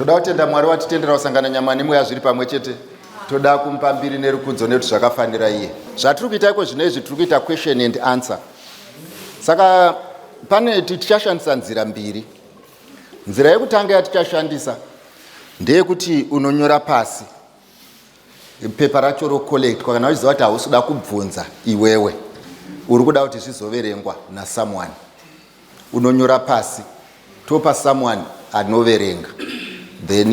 Toda kutenda Mwari watitendera kusangana nyama nemweya zviri pamwe chete. Toda kumupa mbiri nerukudzo nekuti zvakafanira iye. Zvatiri kuita iko zvino izvi tiri kuita question and answer. Saka pane tichashandisa nzira mbiri. Nzira yekutanga yatichashandisa ndeyekuti unonyora pasi pepa racho rocollectwa kana uchiziva kuti hausi kuda kubvunza iwewe uri kuda kuti zvizoverengwa nasomeone unonyora pasi topa someone anoverenga then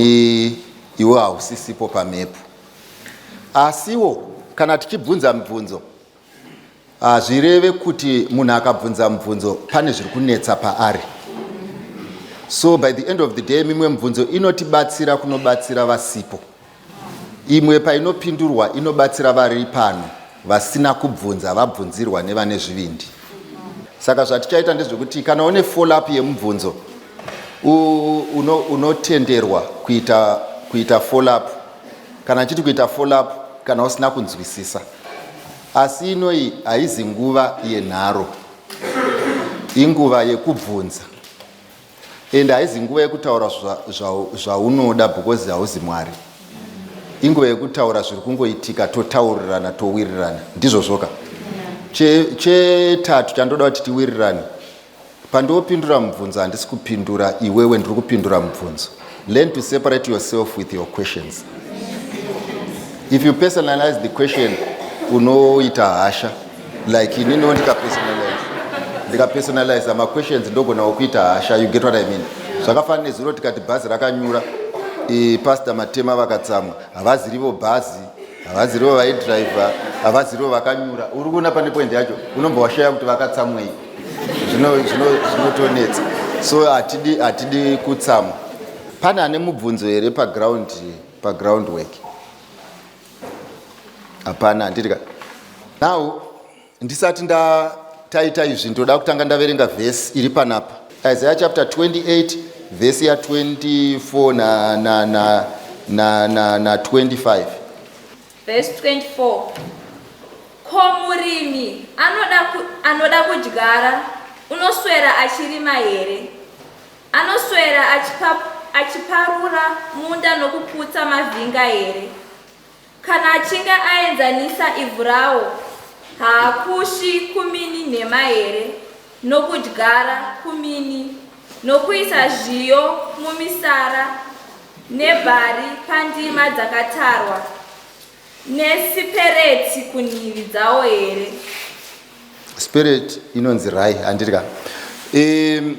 iwe hausisipo pamhepo asiwo kana tichibvunza mibvunzo hazvireve kuti munhu akabvunza mibvunzo pane zviri kunetsa paari so by the end of the day mimwe mibvunzo inotibatsira kunobatsira vasipo Imwe painopindurwa inobatsira vari pano vasina kubvunza vabvunzirwa nevane zvivindi. Saka zvatichaita ndezvekuti kana une follow up yemubvunzo unotenderwa uno kuita, kuita follow up kana chiti kuita follow up kana usina kunzwisisa. Asi inoyi haizi nguva yenharo, inguva yekubvunza. and haizi nguva yekutaura zvaunoda because hauzi mwari inguva yekutaura zviri kungoitika totaurirana towirirana ndizvo zvoka chetatu chandoda kuti tiwirirane pandiopindura mubvunzo handisi kupindura iwewe ndiri kupindura mubvunzo Learn to separate yourself with your questions. If you personalize the question, unoita hasha. Like inini ndika personalize. Ndika personalize ma questions ndogona kuita hasha. You get what I mean? Zvakafanana nezuro tikati bhazi rakanyura. E, pastor Matema vakatsamwa. Havazi rivo bhazi. Havazi rivo vaidriver. Havazi rivo vakanyura. Uri kuona pane point yacho. Unombowashaya kuti vakatsamwei. zvinotonetsa so hatidi hatidi kutsamwa pane ane mubvunzo here paground paground work hapana handirika now ndisati nda taita izvi ndoda kutanga ndaverenga vhesi iri panapa isaiah chapter 28 vhesi ya 24 na, na, na, na, na, na 25 Verse 24 Ko murimi anoda, ku, anoda kudyara unoswera achirima here? Anoswera achipa, achiparura munda nokuputsa mavhinga here? Kana achinge aenzanisa ivhu rawo, haakushi kumini nhema here, nokudyara kumini nokuisa zviyo mumisara nebhari pandima dzakatarwa nesipereti kunhivi dzawo here spirit inonzi rai handiri ka um,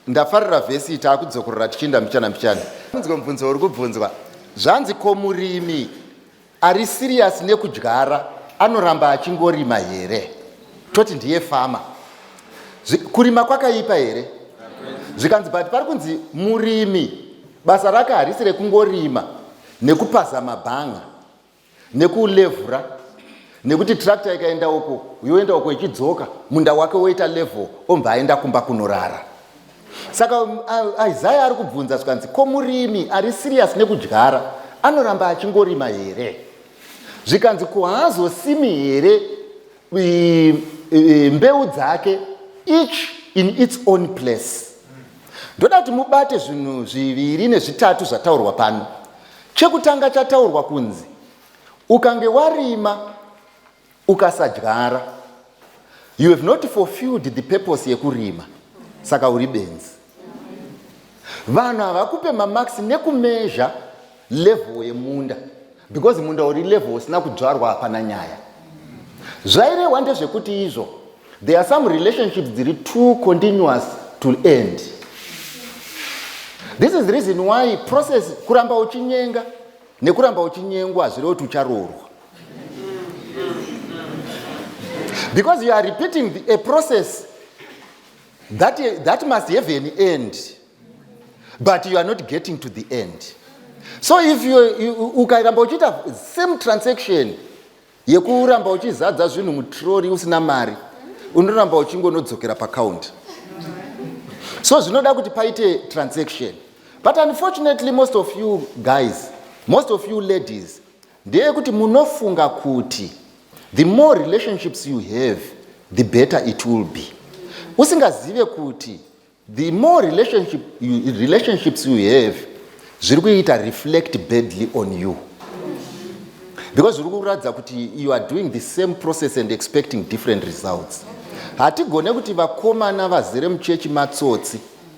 ndafarira vhesi iyi taakudzokorora tichiinda mbichana mbichana unzwe mubvunzo uri kubvunzwa zvanzi ko murimi Ari serious nekudyara anoramba achingorima here toti ndiye fama kurima kwakaipa here zvikanzi but pari kunzi murimi basa rake harisi rekungorima nekupaza mabhanga nekulevhura nekuti tractor ikaenda uko yoenda uko ichidzoka munda wake woita level ombva aenda kumba kunorara saka um, isaya ari kubvunza zvikanzi ko murimi ari sirius nekudyara anoramba achingorima here zvikanzi ko haazosimi here mbeu dzake each in its own place ndoda kuti mubate zvinhu zviviri nezvitatu zvataurwa pano chekutanga chataurwa kunzi ukange warima ukasadyara you have not fulfilled the purpose yekurima saka uri benzi vanhu havakupe mamax nekumezha level yemunda because munda uri level usina kudzvarwa hapana nyaya zvairehwa ndezvekuti izvo there are some relationships dziri too continuous to end this is the reason why process kuramba uchinyenga nekuramba uchinyengwa hazvireva kuti ucharoorwa because you are repeating the, a process that, that must have an end but you are not getting to the end so if ukaramba uchiita same transaction yekuramba uchizadza zvinhu mutrori usina mari unoramba uchingonodzokera pacounti so zvinoda kuti paite transaction but unfortunately most of you guys most of you ladies ndeyekuti munofunga kuti the more relationships you have the better it will be usingazive kuti the more relationship you, relationships you have zviri kuita reflect badly on you because zviri kuratidza kuti you are doing the same process and expecting different results hatigone kuti vakomana vazere muchechi matsotsi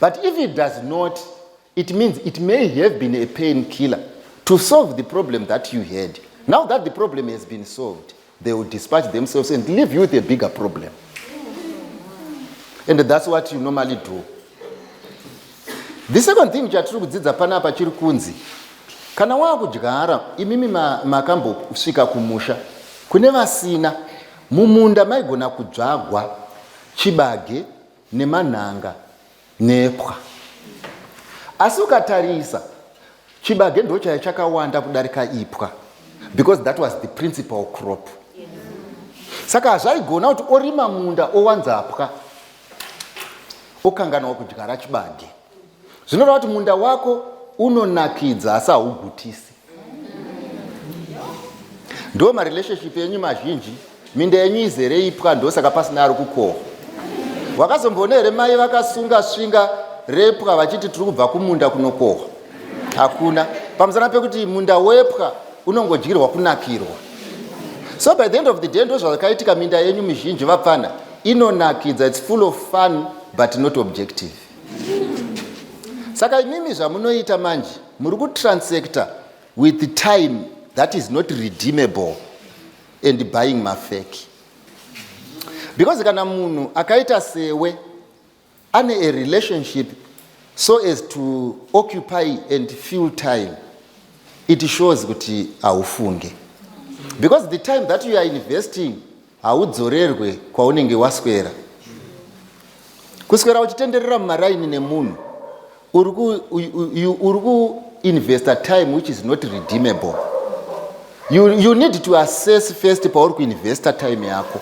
but if it does not it means it may have been a pain killer to solve the problem that you had now that the problem has been solved they will dispatch themselves and leave you with a bigger problem and that's what you normally do the second thing chatiri kudzidza panapa chiri kunzi kana waakudyara imimi makambosvika ma kumusha kune vasina mumunda maigona kudzvagwa chibage nemanhanga nepwa asi ukatarisa chibage ndo chaya chakawanda kudarika ipwa because that was the principal crop saka hazvaigona kuti orima munda owanza pwa okanganwa kudyara chibage zvinoreva kuti munda wako unonakidza asi haugutisi ndo marelationship enyu mazhinji minda yenyu izere ipwa ndosaka pasina ari kukohwa wakazomboona here mai vakasunga svinga repwa vachiti tiri kubva kumunda kunokohwa hakuna pamusana pekuti munda wepwa unongodyirwa kunakirwa so by the end of the day ndozvakaitika minda yenyu mizhinji vapfana inonakidza its full of fun but not objective saka imimi zvamunoita manje muri kutransector with time that is not redeemable and buying mafeki because kana munhu akaita sewe ane a relationship so as to occupy and fill time it shows kuti haufunge because the time that you are investing Haudzorerwe kwaunenge waswera. Kuswera uchitenderera mumaraini nemunhu uri kuinvesta time which is not redeemable. You, you need to assess first pauri kuinvesta time yako.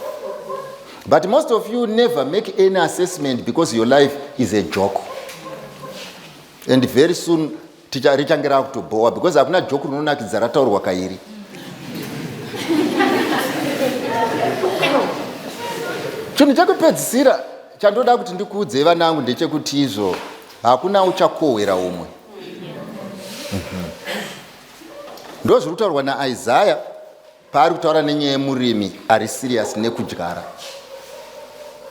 But most of you never make any assessment because your life is a joke. And very soon Ticha richange rakutobhowa because hakuna joke rinonakidza rataurwa kairi. Chinhu chekupedzisira chandoda kuti ndikuudzei vana vangu ndechekuti izvo hakuna uchakohwera umwe. Mhm. Ndozviri kutaurwa naIsaya Paari kutaura nenyaya yemurimi ari serious nekudyara.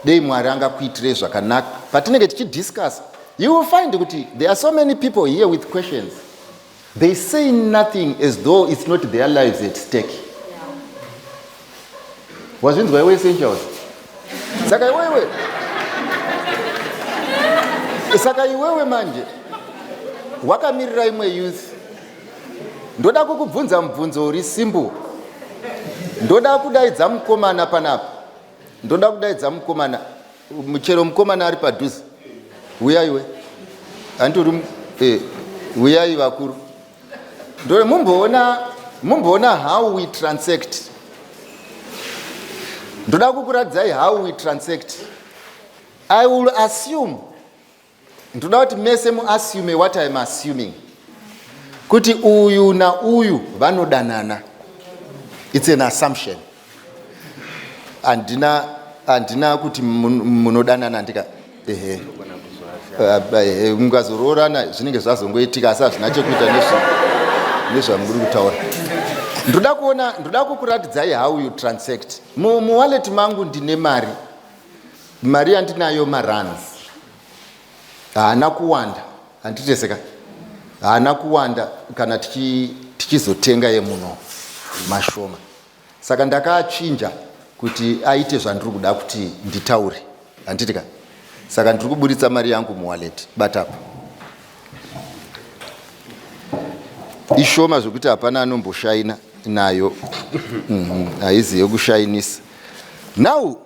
Dei Mwari angakuitirei zvakanaka. Patinenge tichidiscuss, you will find kuti there are so many people here with questions. They say nothing as though it's not their lives at stake. Wazvinzwa iwe essentials? Saka iwewe. Saka iwewe manje wakamirira imwe youth Ndoda kukubvunza mubvunzo uri simple. Ndoda kudaidza mukomana panapa. Ndoda kudaidza mukomana. Chero mukomana ari padhuze. Uyaiwe. Hanti uri eh uyai vakuru. Ndore mumboona mumboona how we transact. Ndoda kukuradzai how we transact. I will assume Ndoda kuti mese muassume what I'm assuming. Kuti uyu na uyu vanodanana. It's an assumption. Andina andina kuti munodanana andika. Ehe. Eh, mukazoroorana zvinenge zvazongoitika asi hazvina chekuita nezvamuri kutaura ndoda kuona ndoda kukuratidzai how you transact muwallet mangu ndine mari mari yandinayo maruns haana kuwanda handiteseka haana kuwanda kana tichizotenga yemuno mashoma saka ndakachinja kuti aite zvandiri kuda kuti nditaure handiti ka saka ndiri kuburitsa mari yangu muwallet batapa ishoma zvekuti hapana anomboshaina nayo mhm, haizi yekushainisa now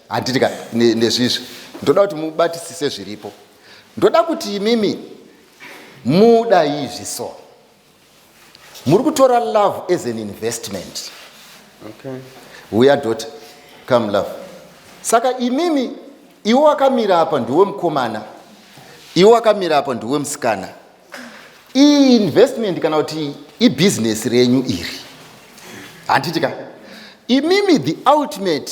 handiti ka ne- nezvizvi ndoda kuti mubatisise zviripo ndoda kuti imimi muda izvi so muri kutora love as an investment Okay. huya dot come love saka imimi iwe wakamira apa ndiwe mukomana iwe wakamira apa ndiwe musikana iyi investment kana kuti ibhizinesi renyu iri handiti ka imimi the ultimate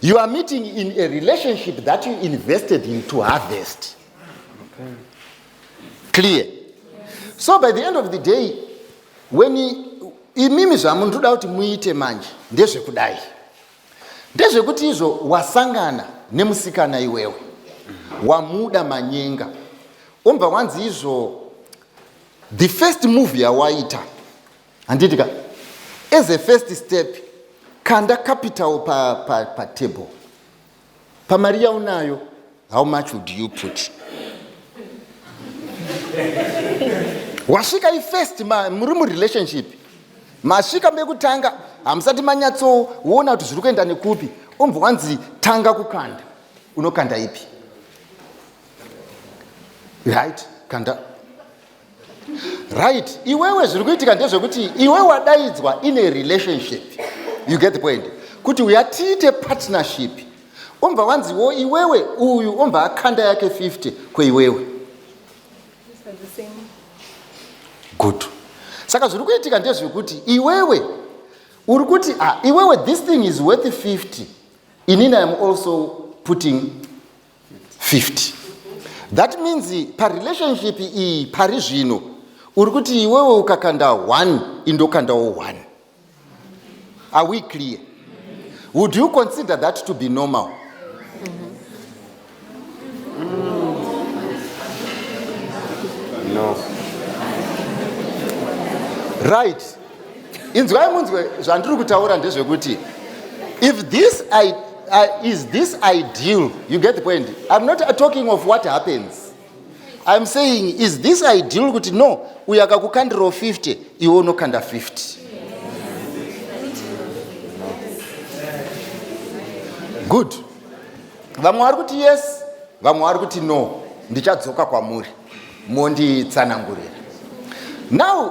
You are meeting in a relationship that you invested in to harvest. Okay. Clear. Yes. So by the end of the day, when imimi zvamunotoda kuti muite manje ndezvekudai ndezvekuti izvo wasangana nemusikana iwewe wamuda manyenga ombva wanzi izvo the first move yawaita handiti ka as a first step kanda capital patable pa, pa pamari yaunayo how much would you put wasvika ifirst muri murelationship masvika mekutanga hamusati manyatsoona kuti zviri kuenda nekupi umbva wanzi tanga kukanda unokanda ipi right kanda right iwewe zviri kuitika ndezvekuti iwe wadaidzwa in a relationship you get the point kuti uya tiite partnership ombva wanziwo iwewe uyu ombva akanda yake 50 kweiwewe good saka zviri kuitika ndezvekuti iwewe uri kuti ah, iwewe this thing is worth 50 inini iam also putting 50 that means parelationship iyi pari zvino uri kuti iwewe ukakanda 1 indokandawo 1 are we clear would you consider that to be normal no. right inzwai munzwe zvandiri kutaura ndezvekuti if this I, uh, is this ideal you get the point i'm not talking of what happens i'm saying is this ideal kuti no uyo akakukandirawo 50 iwe unokanda 50 good vamwe vari kuti yes vamwe vari kuti no ndichadzoka kwamuri monditsanangurira now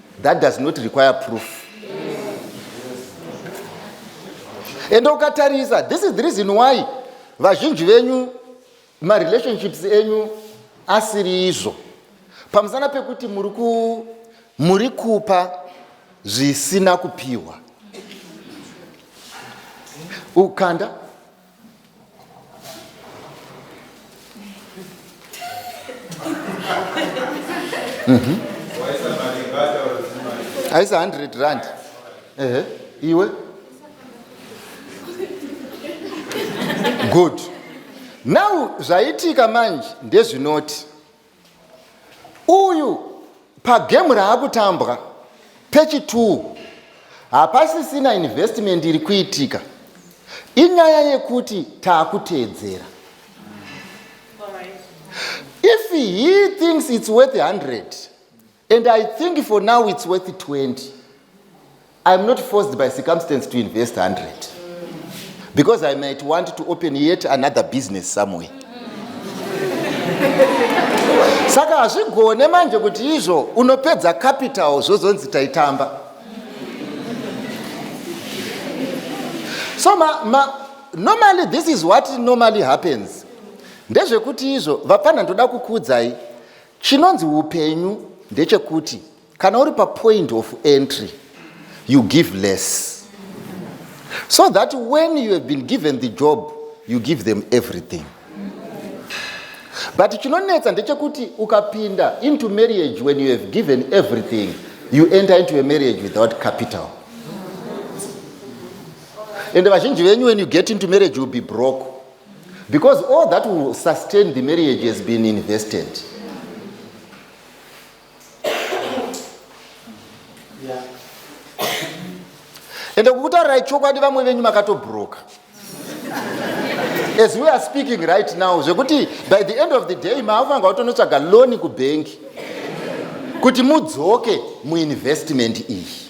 that does not require proof ende ukatarisa this is the reason why vazhinji venyu marelationships enyu asiri izvo pamusana pekuti muri ku muri kupa zvisina kupiwa ukanda Mhm. aisa 100 rand ehe iwe good now zvaitika manje ndezvinoti uyu pagemu raakutambwa pechi 2 hapasisina investment iri kuitika inyaya yekuti taakuteedzera if he thinks its worth 100 and i think for now it's worth 20 iam not forced by circumstance to invest 100 because i might want to open yet another business somewhere saka hazvigone manje kuti izvo unopedza capital zvozonzi taitamba so ma, ma, normally this is what normally happens ndezvekuti izvo vapfanha ndoda kukuudzai Chinonzi upenyu ndechekuti kana uri papoint of entry you give less so that when you have been given the job you give them everything but chinonetsa ndechekuti ukapinda into marriage when you have given everything you enter into a marriage without capital ende vazhinji venyu when you get into marriage youll be broke because all that will sustain the marriage has been invested ende kukutaurirai chokwadi vamwe venyu makatobroka as we are speaking right now zvekuti by the end of the day maakufanirwa kutonotsvaga loni kubhengi kuti mudzoke muinvestment iyi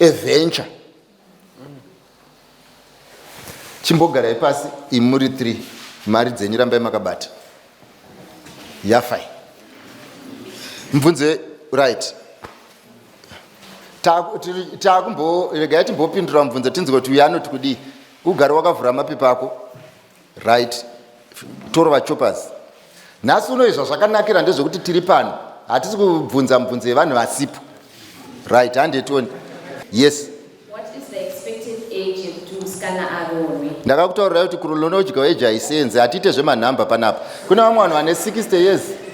eventure chimbogarai pasi imuri three mari dzenyu rambai makabata yafai mubvunze right taakumbo regai timbopindura mubvunze tinzwe kuti uyo anoti kudii ugare wakavhura mapepa ako right torova choppers nhasi uno izva zvakanakira ndezvekuti tiri pano hatisi kubvunza mubvunzo yevanhu vasipo right handetoni yes ndakakutaurira kuti kurolonodya weji haisenzi hatiite zvemanhamba panapa kune vamwe vanhu vane 60 years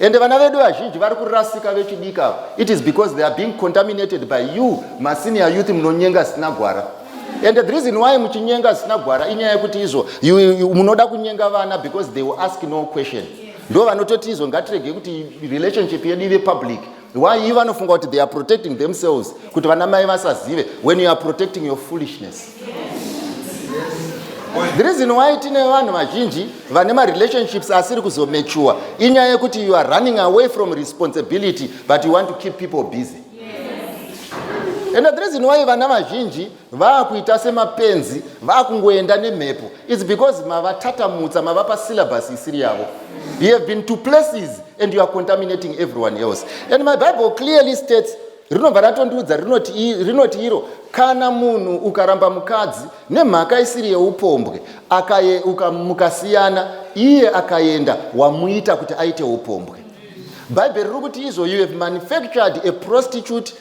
Ende vana vedu vazhinji vari kurasika vechidiki ava. It is because they are being contaminated by you masenior youth munonyenga zvisina gwara. And the reason why muchinyenga zvisina gwara inyaya yekuti izvo munoda kunyenga vana because they will ask no question. Ndo vanototi izvo ngatirege kuti relationship yedu ive public. why you vanofunga kuti they are protecting themselves kuti vana mai vasazive when you are protecting your foolishness the reason why tine vanhu vazhinji vane marelationships asiri kuzomature inyaya yekuti you are running away from responsibility but you want to keep people busy and the reason why vana vazhinji vaakuita semapenzi vaakungoenda nemhepo its because mavatatamutsa mavapa syllabus isiri yavo you have been to places and you are contaminating everyone else and my bible clearly states rinobva ratondiudza rinoti iro kana munhu ukaramba mukadzi nemhaka isiri yeupombwe mukasiyana iye akaenda wamuita kuti aite upombwe bhaibheri riri kuti izvo you have manufactured a prostitute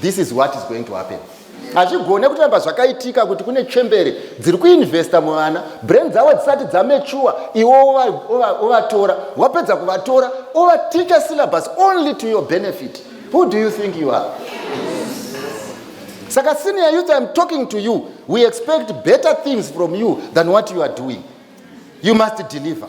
this is what is going to happen hazvigone kutoramba zvakaitika kuti kune chembere dziri kuinvesta muvana brain dzavo dzisati dzamechuwa iwe ovatora wapedza kuvatora ovaticha syllabus only to your benefit who do you think you are saka senior youth iam talking to you we expect better things from you than what you are doing you must deliver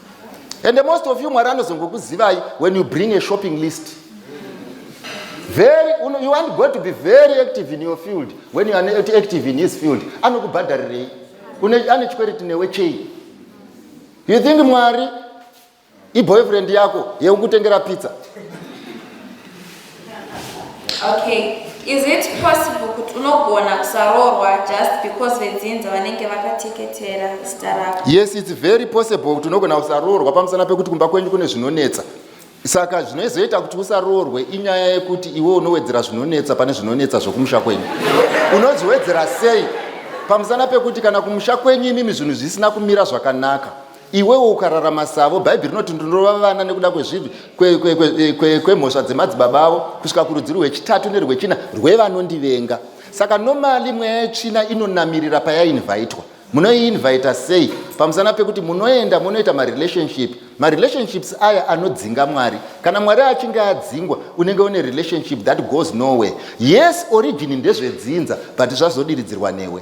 and the most of you mwari anozongokuzivai when you bring a shopping list very you want god to be very active in your field when you are active in his field anokubhadharirei ane chikwereti newe chei you think mwari iboyfriend yako yeukutengera pizza Okay, is it possible kuti unogona kusaroorwa just because vedzinza vanenge vakateketera zita rako? Yes, it's very possible kuti unogona kusaroorwa pamusana pekuti kumba kwenyu kune zvinonetsa. Saka zvinozoita kuti usaroorwe inyaya yekuti iwe unowedzera zvinonetsa pane zvinonetsa zvokumusha kwenyu. Unozviwedzera sei? Pamusana pekuti kana kumusha kwenyu imimi zvinhu zvisina kumira zvakanaka. Iwewo ukararama savo, Bhaibheri rinoti ndinorova vana nekuda kwezvivi kwemhosva eh, dzemadzibaba avo kusvika kurudzi rwechitatu nerwechina rwevanondivenga. Saka nomali mweya yetsvina inonamirira payainvaitwa munoiinvita sei pamusana pekuti munoenda munoita marelationship marelationships aya anodzinga mwari kana mwari achinge adzingwa unenge une relationship that goes nowhere yes origin ndezvedzinza but zvazodiridzirwa newe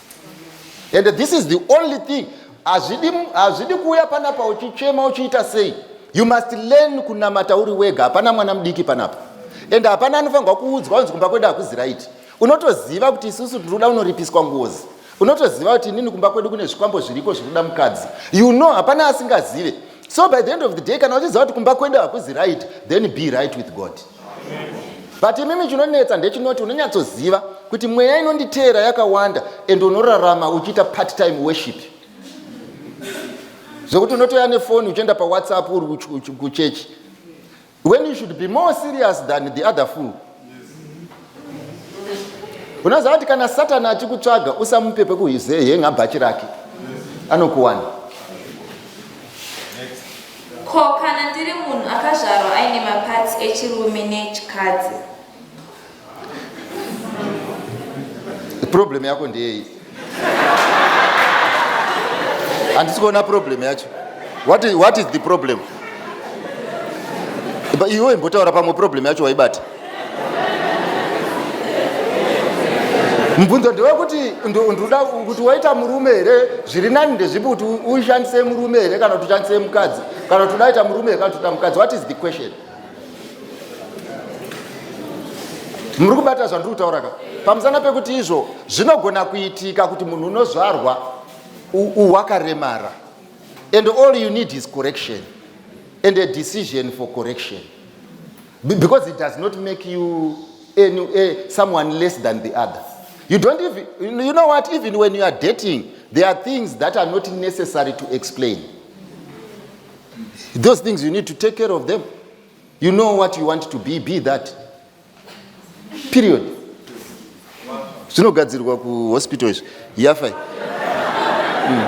and this is the only thing hazvidi kuuya panapa uchichema uchiita sei you must learn kunamata uri wega hapana mwana mudiki panapa and hapana anofanirwa kuudzwa unzi kumba kwedu hakuzi raiti unotoziva kuti isusu tinoda unoripiswa ngozi unotoziva kuti inini kumba kwedu kune zvikwambo zviriko zvinoda mukadzi you know hapana asingazive so by the end of the day kana uchiziva kuti kumba kwedu hakuzi right then be right with god but imimi chinonetsa ndechinoti unonyatsoziva kuti mweya inonditeera yakawanda and unorarama uchiita part time worship zvekuti unotoya nefoni uchienda pawhatsapp uri kuchechi when you should be more serious than the other fool unoziva kuti kana satani achikutsvaga usamupe pekuhenga bhachi rake anokuwana ko kana ndiri munhu akazvarwa aine mapatsi echirume nechikadzi problem yako ndeyei handisi kuona problem yacho what is, what is the problem iwe imbotaura pamwe problem yacho waibata mubvunzo ndewekuti ndoda kuti waita murume here zviri nani ndezvipi kuti ushandise murume here kana kuti ushandise mukadzi kana kuti udaita murume here kana kuti uita mukadzi what is the question muri kubata zvandiri kutaura ka pamusana pekuti izvo zvinogona kuitika kuti munhu unozvarwa wakaremara and all you need is correction and a decision for correction because it does not make you any, uh, someone less than the other you don't even you know what even when you are dating there are things that are not necessary to explain those things you need to take care of them you know what you want to be be that period zvinogadzirwa kuhospital izvi yafa mm.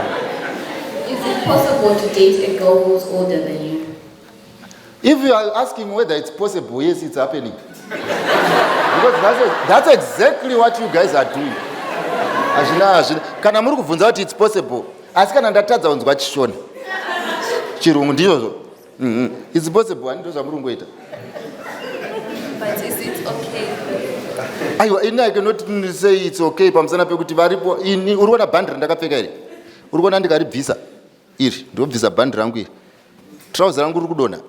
if you are asking whether it's possible yes it's happening because that's, a, that's exactly what you guys are doing hazvina hazvina kana muri kubvunza kuti it's possible asi kana ndatadza kunzwa chishona chirungu ndizvozvo mhm. its possible ani ndozvamuri kungoita aiwa ini i cannot say its okay pamusana pekuti varipo ini uri kuona bhandi randakapfeka iri uri kuona ndikaribvisa iri ndobvisa bhandi rangu iri trouser rangu riri kudonha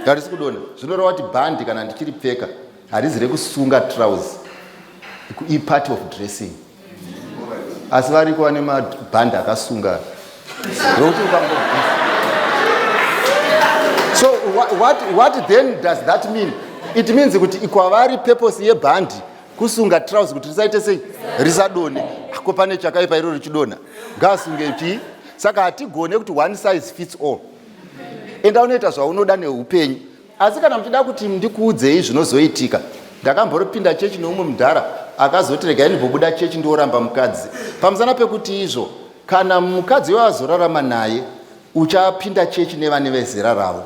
harisi kudonha zvinoreva kuti bhandi kana ndichiri pfeka harizi rekusunga trouse ipart of dressing asi variko vane mabhandi akasunga rokuti ukango so what, what then does that mean it means kuti ikwavari purpose yebhandi kusunga trouse kuti risaite sei risadone ko pane chakaipa iro richidonha ngaasunge chii saka hatigone kuti one size fits all enda unoita zvaunoda neupenyu asi kana muchida kuti ndikuudzei zvinozoitika ndakamboropinda chechi neumwe mudhara akazoti regai ndimbobuda chechi ndioramba mukadzi pamusana pekuti izvo kana mukadzi iwe azorarama naye uchapinda chechi nevane vezera ravo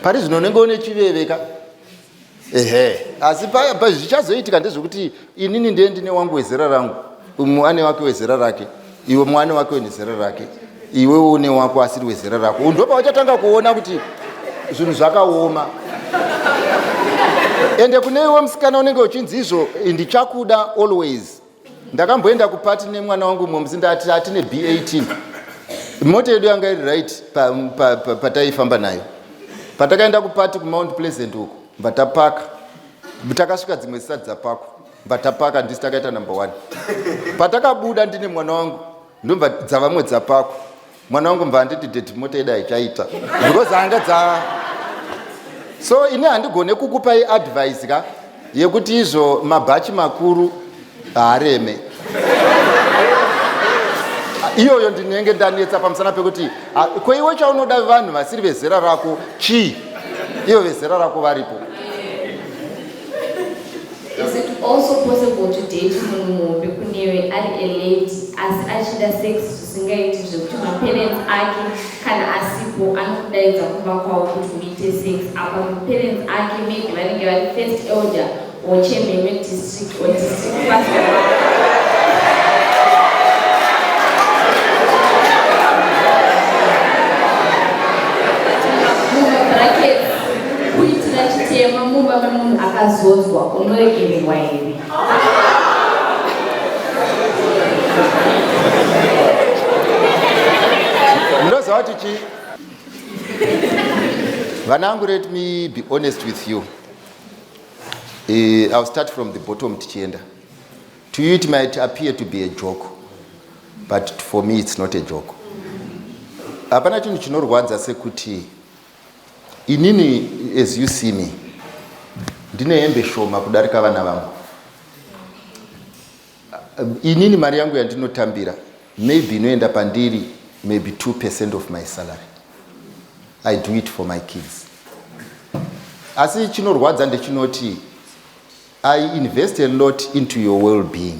pari zvino unenge une chiveveka ehe asi paya pa zvichazoitika ndezvekuti inini ndiye ndine wangu wezera rangu umwe ane wake wezera rake iwe mwe ane wake wezera rake iwewo une wako asiri wezera rako unhu ndopauchatanga kuona kuti zvinhu zvakaoma ende kune iwe musikana unenge uchinzi izvo ndichakuda always ndakamboenda kupati nemwana wangu mumwe musi ndati atine b18 mota yedu yanga iri right pataifamba pa, pa, pa, nayo patakaenda kupati kumount pleasant uko mbatapaka takasvika dzimwe zisati dzapakwa mbatapaka ndisi takaita number one patakabuda ndine mwana wangu ndomba dzavamwe dzapakwa mwana wangu mva handiti deti mota ida ichaita because anga dza so ini handigone kukupa iadvise ka yekuti izvo mabhachi makuru haareme iyoyo ndinenge ndanetsa pamusana pekuti ah, kweiwe chaunoda vanhu vasiri vezera rako chii ivo vezera rako varipo Is it also possible to date munhu muhombe kunewe ari a lady asi achida sex zvisingaiti zvekuti maparents ake kana asipo anokudaidza kumba kwavo kuti muite sex apa maparents ake maybe vanenge vari first elder or chairman wedistrict or district pastor Kuitira chitema mumba memunhu akazodzwa unoregererwa here? Ndoziva kuti chii? Vanangu, let me be honest with you. Uh, I'll start from the bottom tichienda. To you it might appear to be a joke, but for me it's not a joke. Hapana chinhu chinorwadza sekuti Inini as you see me ndine hembe shoma kudarika vana vangu. Inini mari yangu yandinotambira maybe inoenda pandiri maybe 2% of my salary. I do it for my kids. Asi chinorwadza ndechinoti I invest a lot into your well-being.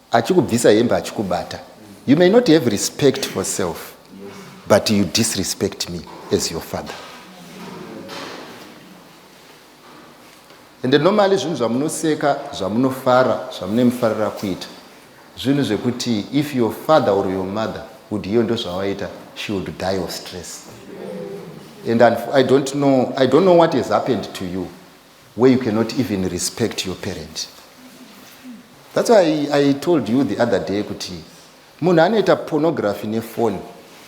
Achikubvisa hembe achikubata. You may not have respect for self but you disrespect me as your father. Ende normally zvinhu zvamunoseka, zvamunofara, zvamunemufarira kuita. Zvinhu zvekuti if your father or your mother would hear ndozvawaita, she would die of stress. And I don't know, I don't know what has happened to you. where you cannot even respect your parent that's why I, i told you the other day kuti munhu anoita pornography nefoni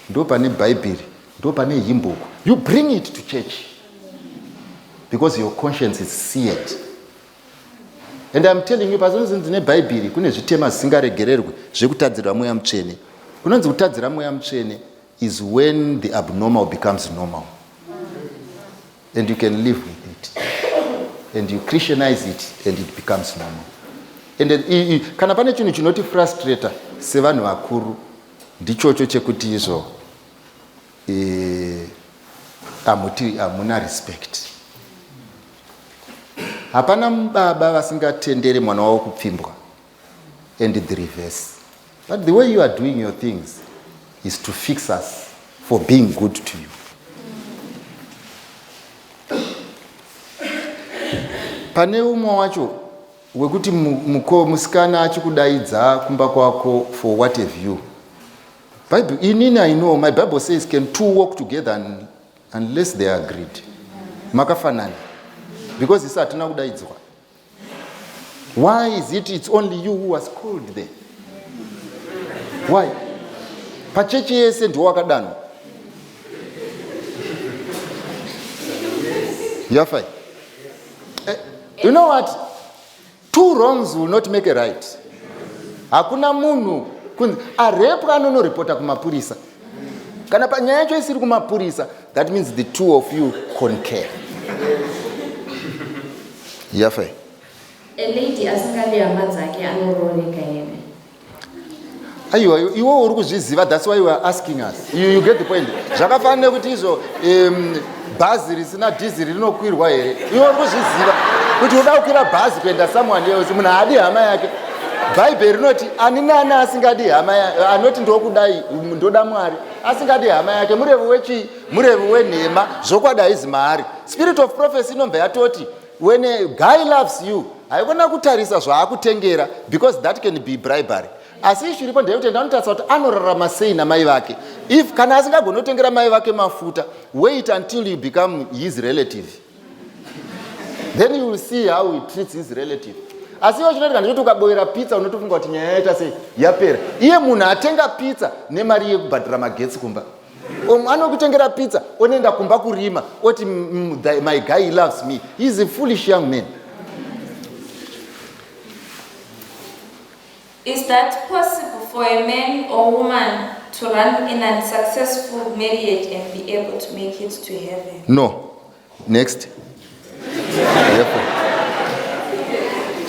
ndo pane bhaibheri ndo pane himbuku you bring it to church because your conscience is seared and iam telling you pazonzi ndine bhaibheri kune zvitema zvisingaregererwi zvekutadzirwa mweya mutsvene kunonzi kutadzira mweya mutsvene is when the abnormal becomes normal and you can live with it and you christianize it and it becomes normal and i, i, kana pane chinhu chinoti frustrator sevanhu vakuru ndichocho chekuti izvo hamuti hamuna respect hapana baba vasingatendere mwana wavo kupfimbwa and the reverse but the way you are doing your things is to fix us for being good to you pane umwe wacho wekuti muko musikana achikudaidza kumba kwako for what have you bible inini i know my bible says can two walk together unless they are agreed makafanana because isi hatina kudaidzwa Why is it it's only you who was called there? Why? Pachechi yese ndiwo wakadanwa. You're fine. Eh, you know what? Two wrongs will not make a right. Hakuna munhu arepwa anonoripota kumapurisa. kana panyaya yacho isiri kumapurisa that means the two of you concare yafe aiwa iwo uri kuzviziva thats why weare asking us you, you get the point zvakafanira kuti izvo um, bhazi risina dhiziri rinokwirwa here iwe uri kuzviziva kuti uda kukwira bhazi kuenda someone else munhu haadi hama yake bhaibheri rinoti ani nani asingadi hama anoti ndokudai ndoda mwari asingadi hama yake murevi wechii murevi wenhema zvokwadi haizi maari spirit of prophecy inobva yatoti when a guy loves you haikona kutarisa zvaakutengera because that can be bribery asi ishu iripo ndeyekuti enda anotarisa kuti anorarama sei namai vake if kana asingagoni kutengera mai vake mafuta wait until you become his relative then you will see how he treats his relative asi iwo chinoitika ndechoti ukaboera pizza unotofunga kuti nyaya yaita sei yapera iye munhu atenga pizza nemari yekubhadhira magetsi kumba um, anokutengera pizza onoenda kumba kurima oti my guy he loves me he is a foolish young man Is that possible for a man or woman to run in an successful marriage and be able to make it to heaven? No. Next.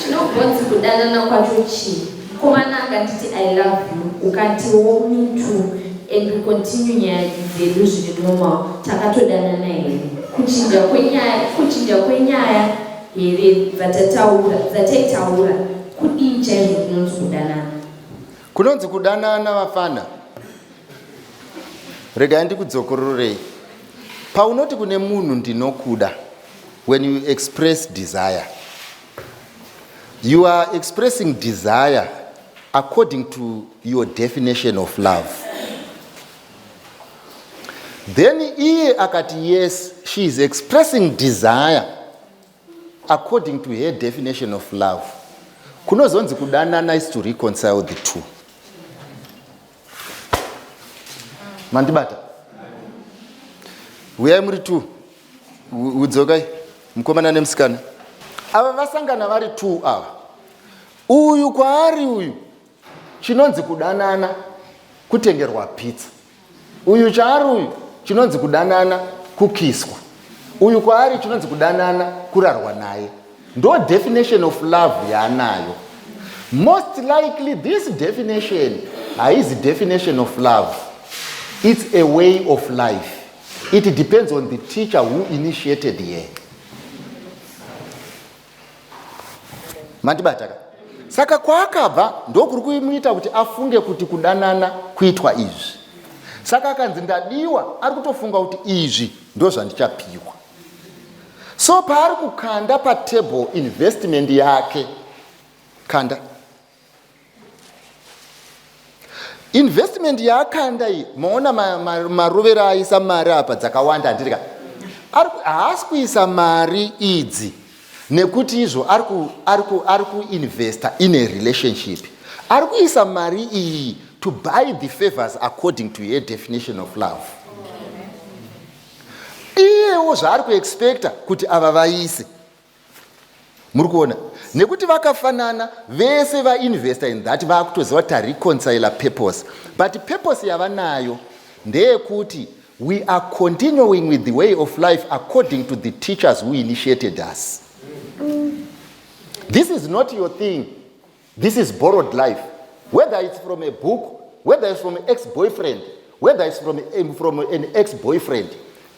Chinobvunzi kudanana kwacho chii? Mukomana akanditi I love you, ukatiwo mutu and we continue nyaya dzedu zviri normal, takatodanana here? Kuchinja kwenyaya, kuchinja kwenyaya here dzatataura dzataitaura kudii chaizvo kunonzi kudanana kunonzi kudanana vafana regai ndikudzokororei paunoti kune munhu ndinokuda when you express desire you are expressing desire according to your definition of love then iye akati yes she is expressing desire according to her definition of love kunozonzi kudanana is to reconcile the two mandibata huyai muri two udzokai mukomana nemusikana ava vasangana vari two ava uyu kwaari uyu Chinonzi kudanana kutengerwa pizza. Uyu chaari uyu chinonzi kudanana kukiswa. Uyu kwaari chinonzi kudanana kurarwa naye. Ndo definition of love yaanayo. Most likely this definition haizi definition of love. It's a way of life. It depends on the teacher who initiated here. mandibataka saka kwaakabva ndokuri kuimuita kuti afunge kuti kudanana kuitwa izvi saka akanzi ndadiwa ari kutofunga kuti izvi ndozvandichapiwa so paari kukanda patable investment yake kanda investment yaakanda iyi maona marovero aisa mari apa dzakawanda handirika haasi kuisa mari idzi nekuti izvo ari kuinvesta in a relationship ari kuisa mari iyi to buy the favors according to her definition of love iyewo zvaari kuexpecta kuti ava vaise muri kuona nekuti vakafanana vese vainvesta in that vakutoziva kuti tareconcile purpose but purpose yavanayo ndeyekuti we are continuing with the way of life according to the teachers who initiated us this is not your thing This is borrowed life. Whether it's from a book, whether it's from an ex-boyfriend, whether it's from, a, from an ex-boyfriend.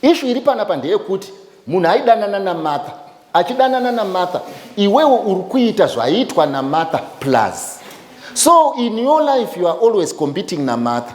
Ishu iri panapa ndeyekuti munhu aidanana namartha achidanana namartha iwewe uri kuita zvaiitwa namartha plus so in your life you are always competing namartha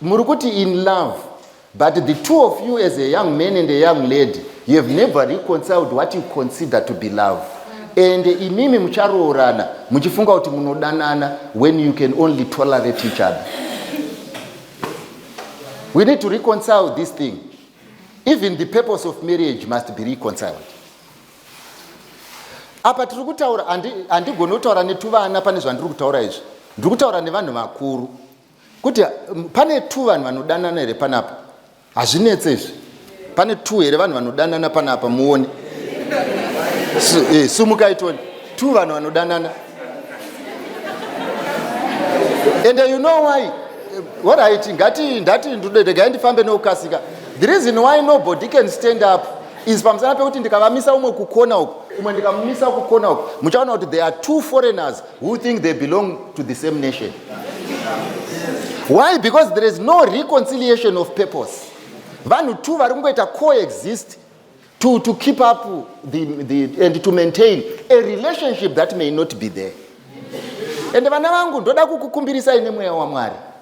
muri kuti in love but the two of you as a young man and a young lady you have never reconciled what you consider to be love and imimi mucharoorana muchifunga kuti munodanana when you can only tolerate each other we need to reconcile this thing even the purpose of marriage must be reconciled apa tiri kutaura handigoni kutaura netuvana pane zvandiri kutaura izvi ndiri kutaura nevanhu vakuru kuti pane two vanhu vanodanana here panapa hazvinetse izvi pane two here vanhu vanodanana panapa muone eh, sumukai toni two vanhu vanodanana and you know why what i think ngati ndati ndodegai ndifambe nokukasika the reason why nobody can stand up is pamusana pekuti ndikavamisa umwe kukona uku umwe ndikamumisa kukona uku muchaona kuti there are two foreigners who think they belong to the same nation why because there is no reconciliation of purpose vanhu two vari kungoita coexist to, to keep up the, the, and to maintain a relationship that may not be there ende vana vangu ndoda kukukumbirisai nemweya wamwari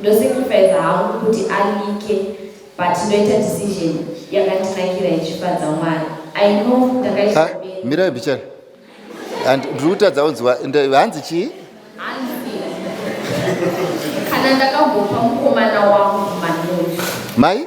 Ndosacrificer hangu kuti alike but ndoita decision yakandinakira ichifadza Mwari. I know ndakaita ah, bere. Mirai bichana. And ndiri kutadza kunzwa hanzi chii? Hanzi. Kana ndakambopa mukomana wangu manoti. Mai?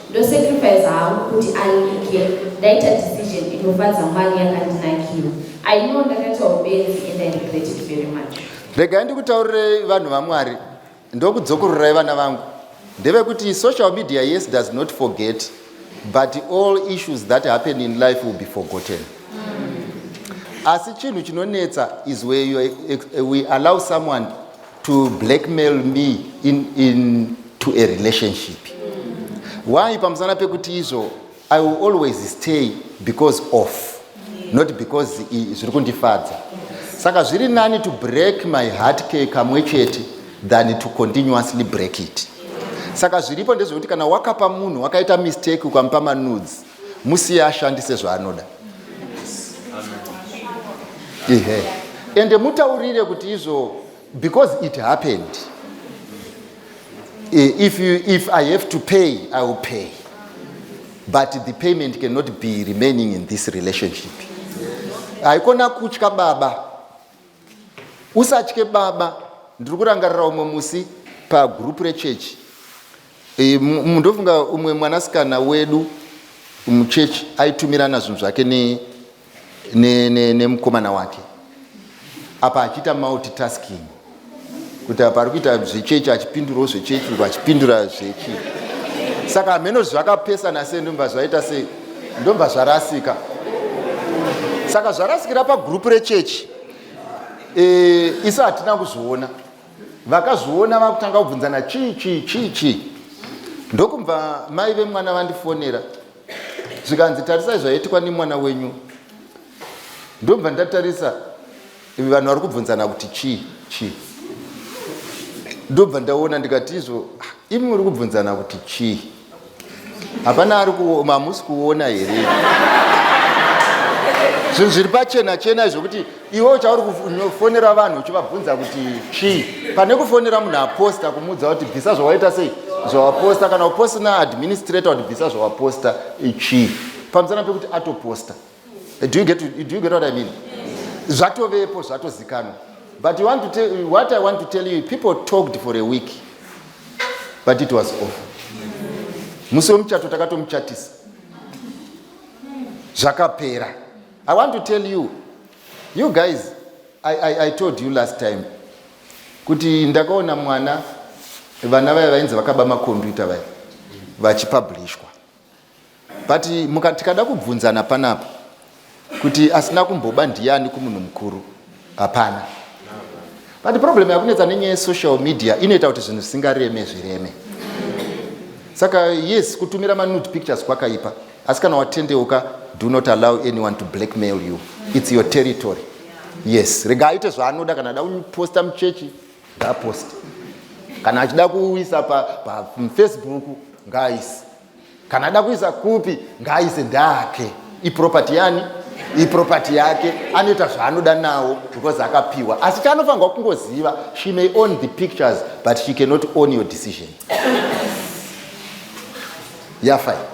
Ndo sacrifice hangu kuti alike ndaita decision inofadza Mwari yakandinakira. I know ndakaita ubenzi and I regret it very much. Regai ndikutaurirei vanhu vaMwari ndokudzokorerai vana vangu ndevekuti social media yes does not forget but all issues that happen in life will be forgotten asi chinhu chinonetsa is where you, we allow someone to blackmail me in, in to a relationship why pamusana pekuti izvo i will always stay because of not because zviri kundifadza saka zviri nani to break my heart ke kamwe chete than to continuously break it saka zviripo ndezvekuti kana wakapa munhu wakaita mistake ukamupa manudes musiye ashandise zvaanoda ihe ende mutaurire kuti izvo because it happened eh, if, you, if i have to pay i will pay but the payment cannot be remaining in this relationship haikona kutya baba usatye baba ndiri kurangarira umwe musi pagroup rechechi e, ndofunga umwe mwanasikana wedu muchechi aitumirana zvinhu zvake nemukomana ne, ne, ne wake apa achiita multitasking kuti apa ari kuita zvechechi achipindurawo zvechechi uku achipindura zvechi saka hameno zvakapesana sei ndomba zvaita sei ndomba zvarasika saka zvarasikira pagurupu rechechi e, eh, isu hatina kuzviona vakazviona vakutanga kubvunzana chii chii chii chii ndokubva mai vemwana vandifonera zvikanzi tarisai zvaitikwa nemwana wenyu ndobva ndatarisa Ivi vanhu vari kubvunzana kuti chii chii. Ndobva ndaona ndikati izvo ah, imi muri kubvunzana kuti chii. Hapana ari kuoma hamusi kuona here. Zvinhu zviri pachena chena izvo kuti iwe uchauri kufonera vanhu uchivabvunza kuti chii. Pane kufonera munhu aposta kumuudza kuti bvisa zvawaita sei zvawaposta kana uposta naadministrator kuti bvisa zvawaposta chii. Pamusana pekuti atoposta. do you get, to, do you get what i mean zvatovepo zvatozikanwa but you want to tell, what i want to tell you people talked for a week but it was off musi wemuchato takatomuchatisa zvakapera i want to tell you you guys I, I, i told you last time kuti ndakaona mwana vana vaya vainzi vakaba makombiyuta vaya vachipublishwa but muka tikada kubvunzana panapa kuti asina kumboba ndiyani kumunhu mukuru hapana but problem yakunetsa nenyaya yesocial media inoita kuti zvinhu zvisingareme zvireme saka yes kutumira manude pictures kwakaipa asi kana watendeuka do not allow anyone to blackmail you its your territory yes rega aite zvaanoda kana ada kuposta muchechi ngaaposte kana achida kuisa pafacebook pa, pa ngaaise kana ada kuisa kupi ngaaise ndake iproperty yani iproperty yake anoita zvaanoda nawo because akapiwa asi chaanofanirwa kungoziva she may own the pictures but she cannot own your decision yafai yeah,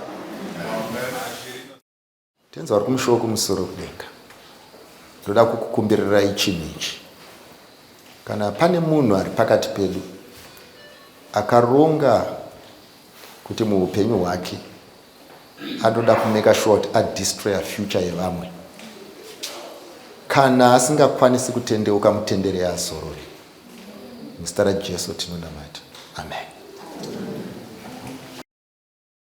Tenzi vari kumusha wokumusoro kudenga, ndoda kukukumbirirai chinhu ichi. Kana pane munhu ari pakati pedu akaronga kuti muupenyu hwake anoda kumeka shuwa kuti adistroya future yevamwe, kana asingakwanisi kutendeuka, mutendere azorore. Muzita raJesu tinonamata. Amen.